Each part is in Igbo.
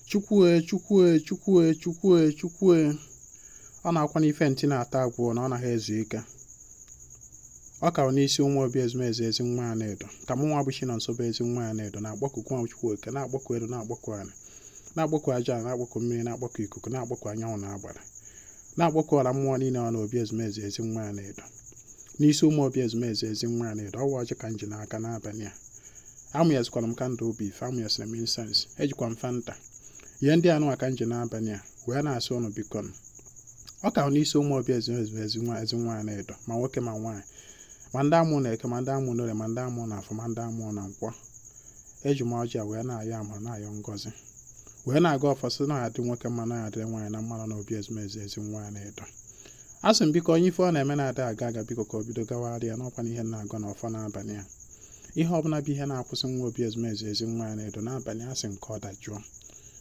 chukwue chukwue chukwue chukwue chukwue ọ na-akwa n'ife nti na-ata agwụ na ọ naghị ezu ike ọ ka n'isi ụmụ obi ezumezu ezi nwa anaedo ka mụ nwa bụ chinonso bụ ezi nwa anaedo na-agbakọ nwa chukwu oke na-agbakọ elu na-agbakọ ala na-agbakọ aja na-agbakọ mmiri na-agbakọ ikuku na-agbakọ anyanwụ na agbara na-agbakọ ọra mmụọ niile nọ na obi ezumezu ezi nwa anaedo n'isi ụmụ obi ezumezu ezi nwa anaedo ọ wụ ọjị ka m ji n'aka n'abalị a amụnyezikwara m kandụl obi ife amụnyesịrị m insens ejikwa m fanta ihe ndị a nwa ka m ji n'abalị a wee na-asị unu biko nụ ọ ka n'isi ụmụ obi ezumezu ezi nwa ezi nwa anaedo ma nwoke ma nwaanyị ma ndị amụ na eke ma ndị amụ n'orie ma ndị amụ na afọ ma ndị amụ na nkwọ eji m ọjị a wee na-ayọ amara na-ayọ ngọzi wee na-agọ ọfọ sị na adị nwoke mma na adịrị nwaanyị na mma nọ na obi ezumezu ezi nwa anaedo a sị m biko onye ife ọ na-eme na-ada aga aga biko ka o bido gawara ya n'ọkwa na ihe na-agọ na ọfọ n'abalị a ihe ọbụla bụ ihe na-akwụsị nwa obi ezumezu ezi nwa anaedo n'abalị a sị m ka ọ dajụọ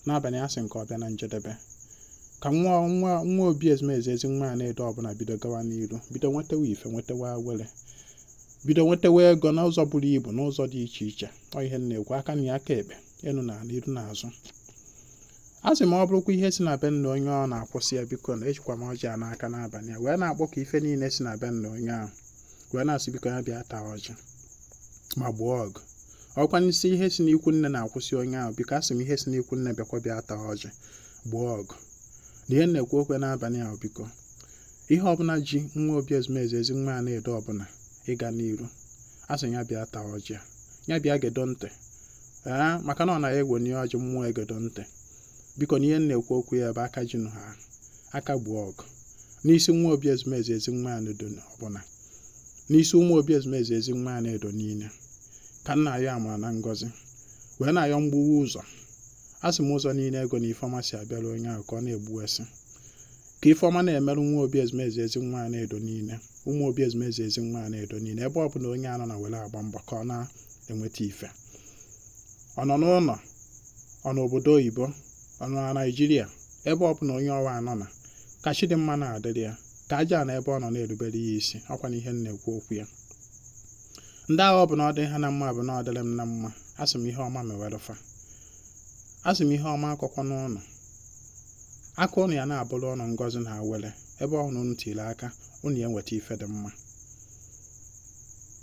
n'abalị a sị m ka ọ bịa na njedebe ka nwa nwa nwa obi ezumezu ezi nwa anaedo ọbụla bido gawa n'iru bido nwetewa ife nwetewa awele bido nwetewa ego n'ụzọ buru ibu n'ụzọ dị iche iche ọ ihe na-ekwu aka nri aka ekpe enu na ala iru na azụ a sị ma ọ bụrụkwa ihe si na be nna onye ọ na-akwụsị ya biko na ejikwa m ọjị a n'aka n'abalị a wee na-akpọku ife niile si na be nna onye ahụ wee na-asị biko ya bịa taa ọjị ma gbuo ọgụ ọkwa n'isi ihe si n'ikwu nne na-akwụsị onye ahụ biko asị m ihe si n'ikwu nne bịakwa bịa taa ọjị gbuo ọgụ na ihe m na-ekwu okwu ya n'abalị a biko ihe ọbụla ji nwa obi ezumezu ezi nwa anaedo ọbụla ịga n'iru asị ya bịa taa ọjị ya bịa gedo ntị ee maka na ọ na e wenie ọjị mmụọ egedo ntị biko na ihe m na-ekwu okwu ya bụ aka ji nụ haa aka gbuo ọgụ n'isi nwa obi ezumezu ezi nwa anaedo ọbụla n'isi ụmụ obi ezumezu ezi nwa anaedo niile ka m na-ayọ amara na ngọzi wee na-ayọ mgbuwa ụzọ a sị m ụzọ niile ego na ifeọma si abịara onye ahụ ka ọ na-egbuwesị ka ifeọma na-emere nwa obi ezumezu ezi nwa anaedo niile ụmụ obi ezumezu ezi nwa anaedo niile ebe ọ bụla onye a nọ na were agba mbọ ka ọ na-enweta ife ọ nọ n'ụlọ ọ nọ n'obodo oyibo ọ nọ na naijiria ebe ọ bụla onye ọwa nọ na ka chi dị mma na-adịrị ya ka aja ana ebe ọ nọ na-erubere ya isi ọkwa na ihe m na-ekwu okwu ya ndị agha ọ bụ na ọ dị ha na mma bụ na ọ dịrị m na mma asị m ihe ọma mewere fa asị m ihe ọma akọkwana unu aka unu ya na-abụrụ unu ngọzi na awele ebe ọ bụla unu tiri aka unu ya enweta ife dị mma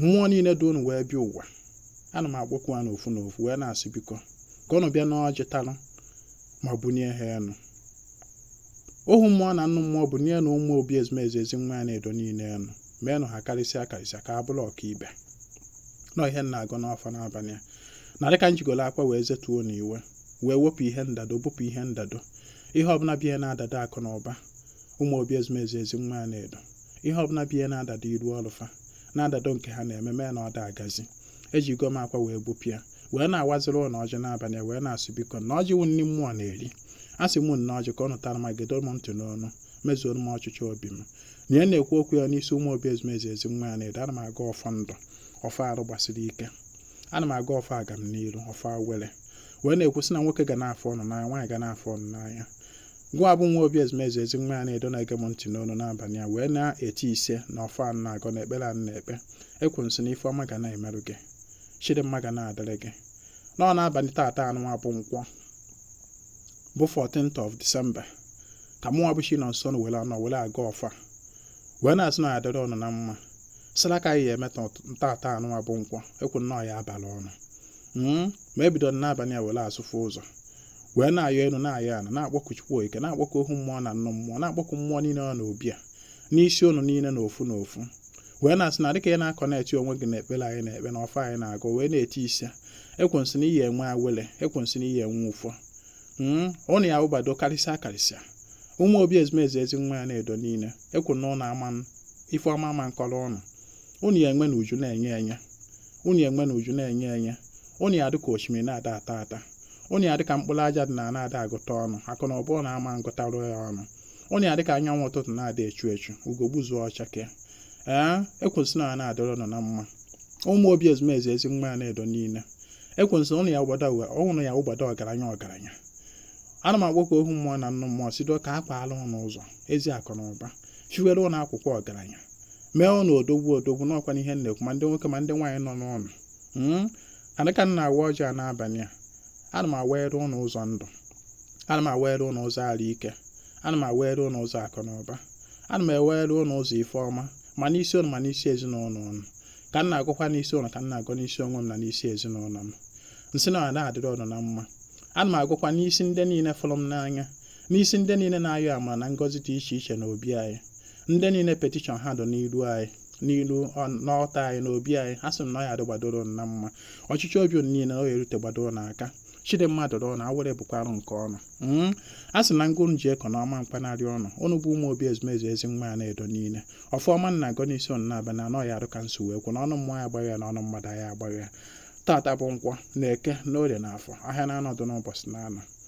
mmụọ niile du unu wee bịa ụwa ana m akpọkwu ha n'ofu n'ofu wee na-asị biko ka unu bịa n'ọjị talụ ma bunye ha enu ohu mmụọ na nnụ mmụọ bunyenụ ụmụ obi ezumezu Ezenwaanyị Anaedo niile enu meenụ ha karịsịa karịsịa ka ha bụrụ ọkaibe na ọ ihe m na-agọ n'afọ n'abalị a na dịka m jigoro akwa wee zetuo na iwe wee wepụ ihe ndado bupụ ihe ndado ihe ọbụla bụ ihe na-adado akụ na ụba ụmụ obi ezumezu Ezenwaanyị Anaedo ihe ọbụla bụ ihe na-adado iru ọlụ fa na-adado nke ha na-eme mee na ọ da agazi ejigo m akwa wee gbupịa wee na-awaziri unu ọjị n'abalị wee na-asị biko na ọjị wụ nri mmụọ na-eri asị m nee ọjị ka unu tara ma gedo m ntị n'ọnụ mezuoro m ọchịchị obi m na ihe m na-ekwu okwu ya n'isi ụmụ obi ezumezu Ezenwaanyị Anaedo ana m agọ ọfọ ndụ ọfọ arụ gbasiri ike ana m agọ ọfọ agamniru ọfọ awele wee na-ekwu sị na nwoke ga na-afụ unu n'anya nwaanyị ga na-afụ unu n'anya Gịnwa bụ nwa obi ezumezu Ezenwaanyị Anaedo na-ege m ntị n'olu n'abalị a wee na-eti ise na ọfọ anyị na-agọ na ekpere anyị na-ekpe ekwu m sị na ife ọma ga na-emere gị chi dị mma ga na-adịrị gị na ọ n'abalị taata anụnwa bụ nkwọ bụ 14th of December ka mụnwa bụ Chinọnso na were anọ were agọ ọfọ wee na-asị na ọ ya adịrị ụnụ na mma sị na ka anyị ya eme taata anụnwa bụ nkwọ ekwu na ọ ya abalụ ụnụ ma ebido n'abalị a were asụfụ ụzọ wee na-ayọ enu na-ayọ ana na-akpọku chukwu okike na-akpọku ohu mmụọ na nnụ mmụọ na-akpọku mmụọ niile nọ n'obi a n'isi ụnụ niile na ofu na ofu wee na-asị na dịka ị na-aconnect onwe gị na ekpere anyị na-ekpe na ọfọ anyị na-agọ wee na-eti ise ekwu m sị na ị ya enwe awele ekwu m sị na ị ya enwe ụfọ hmm, ụnụ ya abụgbado karịsịa karịsịa ụmụ obi ezumezu Ezenwaanyị Anaedo niile ekwu na ụnụ ama ife ọma ama nkọrọ ụnụ ụnụ ya enwe na uju na-enye enye unu ya enwe na uju na-enye enye unu ya dị ka osimiri na-ada ata ata unu ya dị ka mkpụrụ aja dị n'ana ada agụta ọnụ akụ na ụba ụnụ ama ngụtarụ ya ọnụ unu ya dị ka anyanwụ ụtụtụ na-ada echu echu ugo gbuzuo ọ chakee ee ekwu m sị na ọ ya na-adịrị ụnụ na mma ụmụ obi ezumezu Ezenwaanyị Anaedo niile ekwu m sị ụnụ ya abụgbado ụnụ ya abụgbado ọgaranya ọgaranya ana m agọ ka ohu mmụọ na nnụ mmụọ sido ike akwaalụ ụnụ ụzọ ezi akụ na ụba chiwere ụnụ akwụkwọ ọgaranya mee ụnụ odogwu odogwu nụkwanụ ihe m na-ekwu ma ndị nwoke ma ndị nwaanyị nọ n'ụlọ Mm. na dịka m na-awa ọjị a n'abalị a ana m awara ụnụ ụzọ ndụ ana m awara ụnụ ụzọ arụ ike ana m awara ụnụ ụzọ akụ na ụba ana m awara ụnụ ụzọ ife ọma ma n'isi ụnụ ma n'isi ezinụlọ ụnụ ka m na-agọkwa n'isi ụnụ ka m na-agọ n'isi onwe m na n'isi ezinụlọ m m sị na ọ na-adịrị ụnụ na mma ana m agọkwa n'isi ndị niile fụrụ m n'anya n'isi ndị niile na-ayọ amara na ngọzi dị iche iche n'obi anyị ndị niile petishọn ha dụ n'iru anyị n'ilu n'ọta anyị n'obi anyị asị m na ọ ya adịgbadoro na mma ọchịchọ obi niile na ọ ya erute gbadoro n'aka chi dị mma duru ụnụ awele bụkwarụ nke ụnụ hmm? a sị na ngụrụ ji ekọ na ọma mkpanarị ọnụ ụnụ bụ ụmụ obi ezumezu ezi nwa ya na-edo niile ọfụma na-agọ n'isi ụnụ na-abịa na anọ ya arụ ka nso wee kwu na ọnụ mmụọ ya agbaghị ya na ọnụ mmadụ ya agbaghị ya tata bụ nkwọ na eke na orie na afọ ahịa na anọ dụ n'ụbọchị na anọ